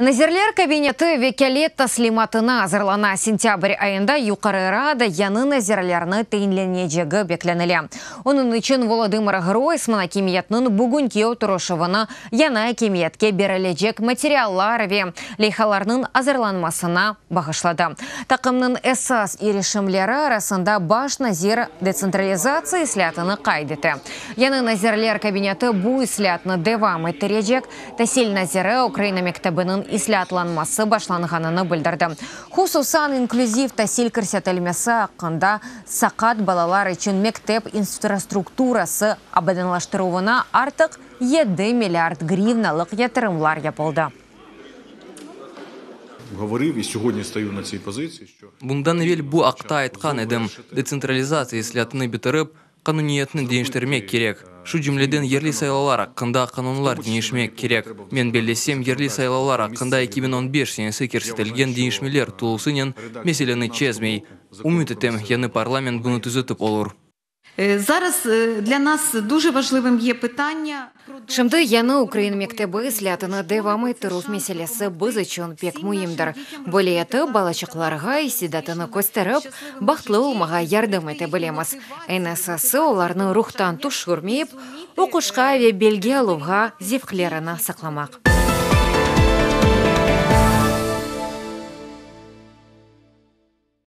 Nazirler kabineti vekâlet taslimatına azırlana, sentâbr ayında Yuqarı Rada yañı nazirlerni teyinlenecegi beklenile. Onıñ içün Volodımır Groysman akimiyetniñ bugünki oturışuvını yañı akimiyetke berilecek materiallar ve leyhalarnıñ azırlanmasına bağışladı. Taqımnıñ esas irişimleri arasında baş nazir detsentralizatsiya islâtını qayd ete, Yañı nazirler kabineti bu islâtnı devam ettirecek. Tasil naziri Ukraina mektebiniñ islâtlanması başlanğanını bildirdi, hususan inklüziv tasil kirsetilmesi aqqında, saqat balalar içün mektep infrastrukturası abadanlaştıruvına artıq yedi milliard grivnalıq yatırımlar yapıldı. Bundan evel bu aqta aytqan edim, detsentralizatsiya islâtını bitirip, Qanuniyetni deñiştirmek kerek, şu cümleden yerli saylavlar aqqında qanunlar deñişmek kerek. Men bellesem, yerli saylavlar aqqında eki biñ on beş senesi kersetilgen deñişmeler tulusınen meseleni çezmey. Ümüt etem, yañı parlament bunı tüzetip olur. Zarız, dla nas duje vajlivım ye pıtanya. Şimdi yañı ukrain mektebi islâtını devam ettirüv meselesi biz içün pek müimdir, böyle etip, balaçıqlarğa istidatını kösterip, bahtlı olmağa yardım ete bilemiz. Eñ esası, olarnı ruhtan tüşürmeyip, oquşqa ve bilgi aluvğa zevqlerini saqlamaq.